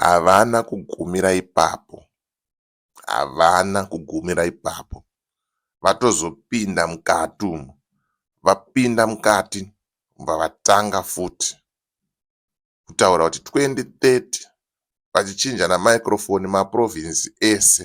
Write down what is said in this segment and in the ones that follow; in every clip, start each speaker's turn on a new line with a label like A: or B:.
A: Havana kugumira ipapo, havana kugumira ipapo, vatozopinda mukati umu. Vapinda mukati vobva vatanga futi kutaura kuti 2030 vachichinja namicrofoni maprovinzi ese.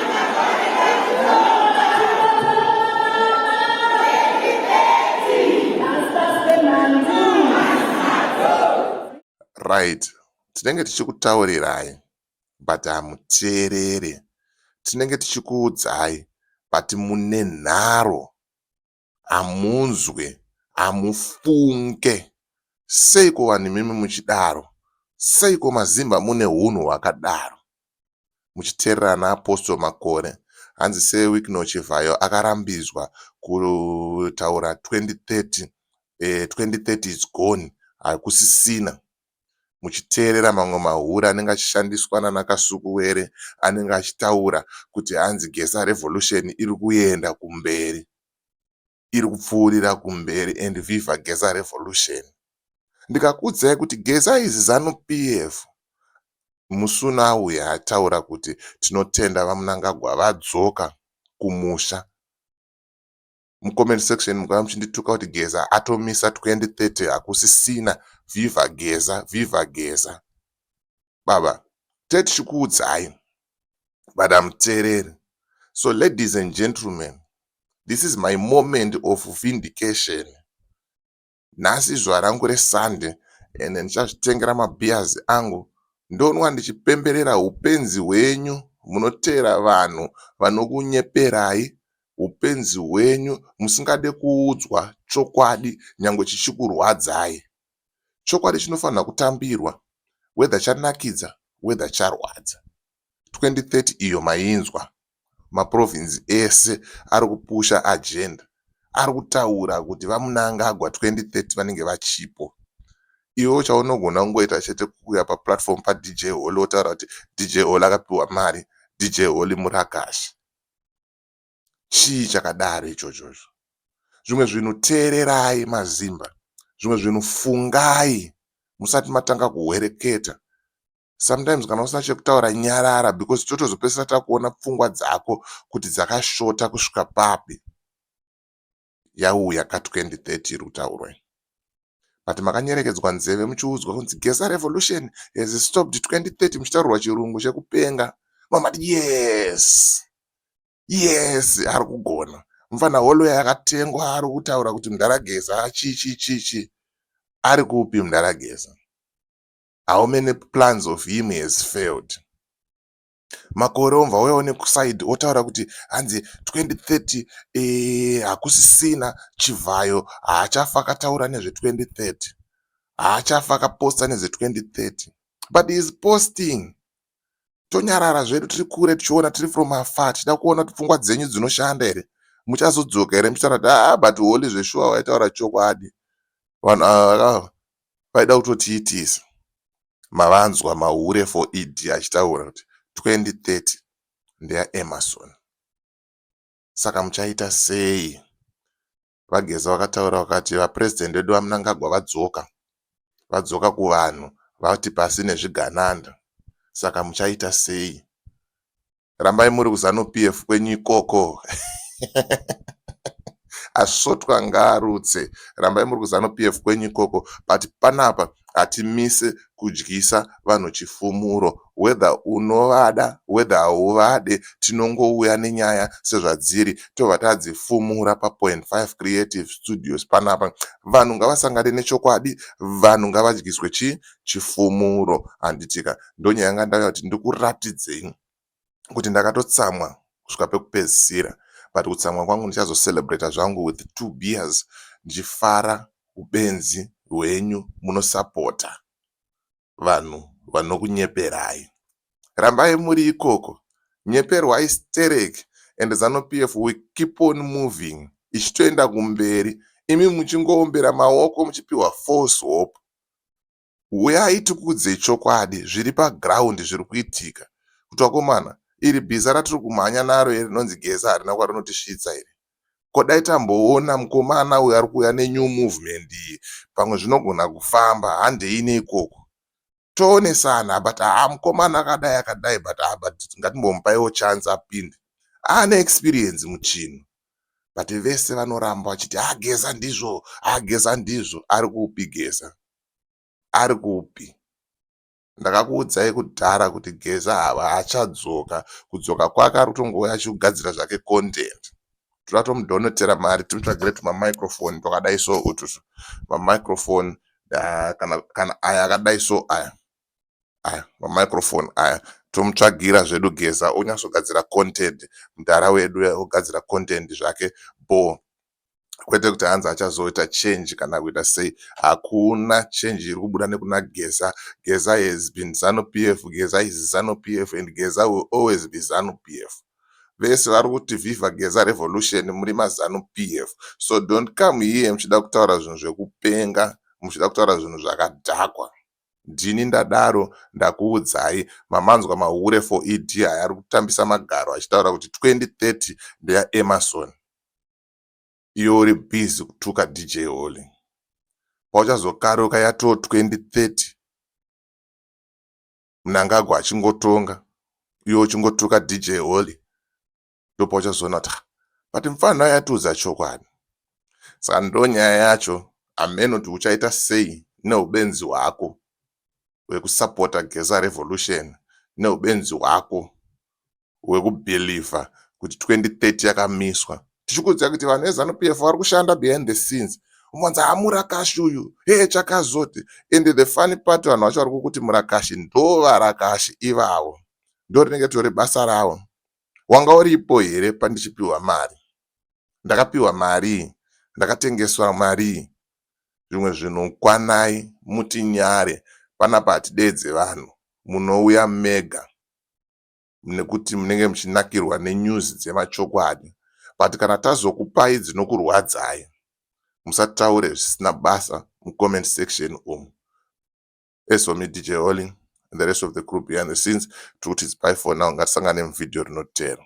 A: right tinenge tichikutaurirai but hamuteerere tinenge tichikuudzai but mune nharo hamunzwe hamufunge seiko vanhu imimi muchidaro seiko mazimba mune hunhu hwakadaro muchiteerera ana apostle makore hanzi sewikno chivhayo akarambidzwa kutaura 2030 eh, 2030 is gone hakusisina muchiteerera mamwe mahure anenge achishandiswa nana Kasukuwere anenge achitaura kuti hanzi Geza revolution iri kuenda kumberi, iri kupfuurira kumberi and viva Geza revolution. Ndikakuudzai kuti Geza is Zanu PF musi unouya ataura kuti tinotenda VaMnangagwa vadzoka kumusha. mucomment section mukava muchindituka kuti geza atomisa 2030 hakusisina viva geza viva geza baba tetichikuudzai but amuteereri so ladies and gentlemen this is my moment of vindication Nhasi izuva rangu reSunday and ndichazvitengera mabeers angu ndonwa ndichipemberera hupenzi hwenyu munoteera vanhu vanokunyeperai hupenzi hwenyu musingade kuudzwa chokwadi nyangwe chichikurwadzai. Chokwadi chinofanirwa kutambirwa whether chanakidza whether charwadza. 2030 iyo mainzwa. maprovince ese ari kupusha agenda ari kutaura kuti vaMunangagwa 2030 vanenge vachipo. Iwewo chaunogona kungoita chete kuuya paplatform paDJ Holy wotaura kuti DJ Holy akapiwa mari, DJ Holy murakashi. Chii chakadaro ichochocho? Zvimwe zvinhu teererai maZimba, zvimwe zvinhu fungai musati matanga kuhwereketa sometimes kana usina chekutaura nyarara because totozopedzisira takuona pfungwa dzako kuti dzakashota kusvika papi yauya ka 2030 iri kutaurwai but makanyerekedzwa nzeve muchiudzwa kunzi gesa revolution has stopped 2030 muchitaurirwa chirungu chekupenga mamati yes yes ari kugona mufana holoya yakatengwa ari kutaura kuti mdharageza chichichichi ari kupi mdharageza how many plans of him has failed makore omva waiwa nekusaidi otaura kuti hanzi 2030 eh, hakusisina chivhayo haachafa akataura nezve 2030 haachafa akaposta nezve 2030 but is posting tonyarara zvedu tiri kure tichiona tiri from afar tichida kuona kuti pfungwa dzenyu dzinoshanda here muchazodzoka here muchitaura kuti aa ah, but holy zveshuwa waitaura chokwadi vanhu ava ah, Vaida kutotiitisa mavanzwa mahure for ED achitaura kuti 2030 ndeya Emmerson saka muchaita sei? VaGeza vakataura vakati vaPresident vedu VaMnangagwa vadzoka, vadzoka kuvanhu vati pasi nezvigananda saka muchaita sei? rambai muri kuzanu PF kwenyu ikoko asvotwa ngaarutse rambai muri kuzanu PF kwenyu ikoko but panapa hatimise kudyisa vanhu chifumuro whether unovada whether hauvade tinongouya nenyaya sezvadziri tobva tadzifumura papoint 5 creative studios panapa vanhu ngavasangane nechokwadi vanhu ngavadyiswe chii chifumuro handitika ndonyaya yanga ndauya kuti ndikuratidzei kuti ndakatotsamwa kusvika pekupedzisira but kutsamwa kwangu ndichazocelebrata zvangu with two beers ndichifara ubenzi hwenyu munosapota vanhu vanokunyeperai rambai muri ikoko nyeperwai stereki and zanu p f we keep on moving ichitoenda kumberi imi muchingoombera maoko muchipiwa false hope huyai tikudze chokwadi zviri paground zviri kuitika kuti vakomana iri bhiza ratiri kumhanya naro iri rinonzi geza harina kwarinotisvitsa iri ko dai tamboona mukomana uyu ari kuuya nenew movement iyi pamwe zvinogona kufamba handei neikoko toonesana but haa ah, mukomana akadai akadai but haa ah, but ngatimbomupaio chance apinde aane ah, experience muchinhu but vese vanoramba vachiti ageza ndizvo ageza ndizvo ari kupi geza arikupi ndakakuudzai kudhara kuti geza haachadzoka kudzoka kwake arikutongouya achigadzira zvake content toda tomudhonotera mari timutsvagire tuma microphone twakadai so ututu ma microphone ah, kana kana aya akadai so aya aya ma microphone aya tomutsvagira zvedu geza onyatsogadzira content mdhara wedu ogadzira content zvake bho kwete kuti hanzi achazoita change kana kuita sei hakuna change iri kubuda nekuna geza geza has been zanu p f geza is zanu p f and geza will always be zanu p f vese vari kuti viva geza revolution muri mazanu p f so don't come here muchida kutaura zvinhu zvekupenga muchida kutaura zvinhu zvakadhakwa ndini ndadaro ndakuudzai mamanzwa mahure for ed aya ari kutambisa magaro achitaura kuti 2030 ndeyaemarson iwe uri busy kutuka DJ Holy. Pauchazokaruka yatoo 2030 Mnangagwa achingotonga iwe uchingotuka DJ Holy ndopauchazoona kuti but mfana uya atiudza chokwadi. Saka ndonyaya yacho ameno kuti uchaita sei neubenzi hwako hwekusapota Geza Revolution neubenzi hwako wekubeliever kuti 2030 yakamiswa tichikuziva kuti vanhu veZanu PF vari kushanda behind the scenes umonzi haa murakashi uyu hee chakazoti and the funny part vanhu vacho vari kukuti murakashi ndo varakashi ivavo ndo rinenge tori basa ravo wanga uripo here pandichipiwa mari ndakapiwa marii ndakatengeswa marii zvimwe zvinhu kwanai mutinyare panapa hatideedze vanhu munouya mega nekuti munenge muchinakirwa nenews dzemachokwadi but kana tazokupai dzinokurwadzai musataure zvisina basa mucomment section umu as for me dj holy and the rest of the group behind the scenes tikuti zipai for now ngatisangane muvideo rinotero